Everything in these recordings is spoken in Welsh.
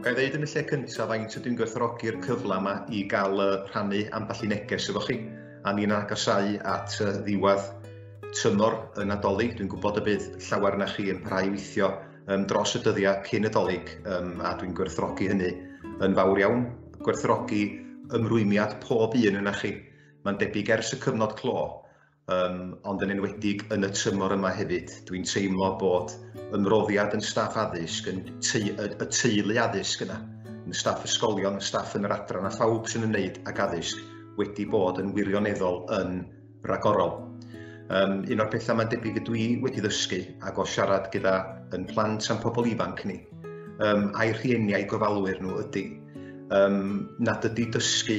Ga'i ddeud yn y lle cyntaf faint ydw i'n gwerthfawrogi'r cyfle yma i gael uh, rhannu ambell i neges efo chi a ni'n agosau at uh, ddiwedd tymor y Nadolig. Dwi'n gwybod y bydd llawer na chi yn parhau weithio um, dros y dyddiau cyn y dolyg um, a dwi'n gwerthfawrogi hynny yn fawr iawn. Gwerthfawrogi ymrwymiad pob un yna chi. Mae'n debyg ers y cyfnod clo um, ond yn enwedig yn y tymor yma hefyd. Dwi'n teimlo bod yn roddiad yn staff addysg, yn te y, y teulu addysg yna, yn staff ysgolion, y staff yn yr adran a phawb sy'n ymwneud ag addysg wedi bod yn wirioneddol yn ragorol. Um, un o'r pethau mae'n debyg y dwi wedi ddysgu ac o siarad gyda yn plant a'n pobl ifanc ni, um, a'i rhieni a'i gofalwyr nhw ydy, um, nad ydy dysgu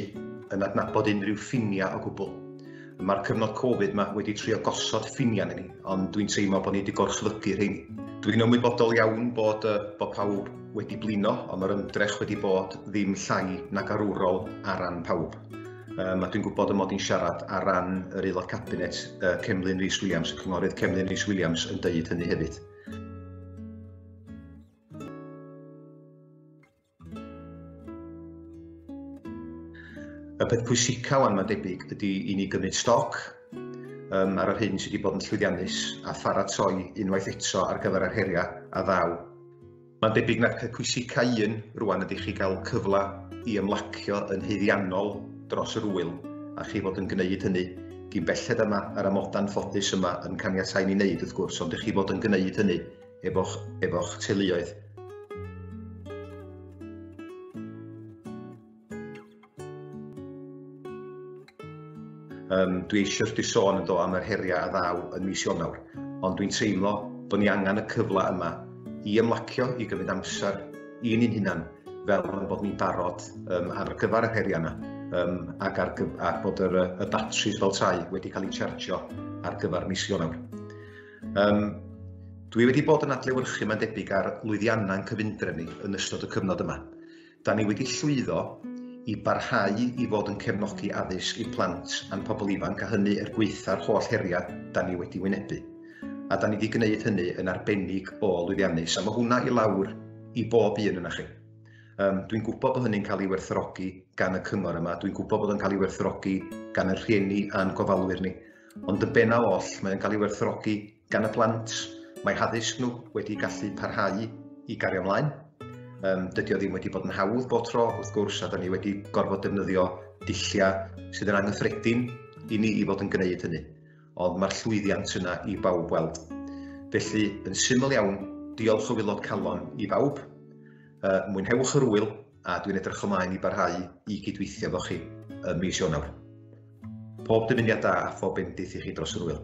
yn adnabod unrhyw ffiniau o gwbl Mae'r cyfnod Covid yma wedi trio gosod ffiniau ni, ond dwi'n teimlo bod ni wedi gorchfygu rheini. Dwi'n ymwybodol iawn bod, uh, bod pawb wedi blino, ond mae'r ymdrech wedi bod ddim llai nag arwrol ar ran pawb. Um, a dwi'n gwybod y mod i'n siarad ar ran yr aelod cabinet uh, Cemlyn Rhys Williams, y cynghorydd Cemlyn Rhys Williams yn deud hynny hefyd. Y peth pwysica wan mae'n debyg ydy i ni gymryd stoc um, ar yr hyn sydd wedi bod yn llwyddiannus a pharatoi unwaith eto ar gyfer yr heriau a ddaw. Mae'n debyg na'r peth pwysica un rwan ydy chi gael cyfle i ymlacio yn heiddiannol dros yr wyl a chi fod yn gwneud hynny gyn belled yma ar amoda'n ffodus yma yn caniatau ni wneud wrth gwrs ond ych chi fod yn gwneud hynny efo'ch efo teuluoedd. Um, dwi eisiau chdi sôn yn do am yr heriau a ddaw yn mis Ionawr, ond dwi'n teimlo bod ni angen y cyfle yma i ymlacio, i gymryd amser i ni'n hunan, fel yn bod ni'n barod um, ar gyfer yr heriau yna, um, ac ar, ar bod yr, y batris fel tai wedi cael ei chargio ar gyfer mis Ionawr. Um, dwi wedi bod yn adlewyrchu mae'n debyg ar lwyddiannau yn cyfundref ni yn ystod y cyfnod yma. Da ni wedi llwyddo i barhau i fod yn cefnogi addysg i plant a'n pobl ifanc a hynny er gweitha'r holl heriau da ni wedi wynebu. A da ni wedi gwneud hynny yn arbennig o lwyddiannus a mae hwnna i lawr i bob un yna chi. Um, dwi'n gwybod bod hynny'n cael ei werthrogi gan y cyngor yma, dwi'n gwybod bod yn cael ei werthrogi gan y rhieni a'n gofalwyr ni. Ond y bennaf oll, mae'n cael ei werthfawrogi gan y plant. Mae haddysg nhw wedi gallu parhau i gario ymlaen. Um, dydy o ddim wedi bod yn hawdd bod tro, wrth gwrs, a da ni wedi gorfod defnyddio dilliau sydd yn anghyffredin i ni i fod yn gwneud hynny. Ond mae'r llwyddiant yna i bawb weld. Felly, yn syml iawn, diolch o wilod calon i bawb. Uh, mwynhewch yr wyl a dwi'n edrych ymlaen i barhau i gydweithio efo chi ym mis Ionawr. Pob dymuniad da a phob bendith i chi dros yr wyl.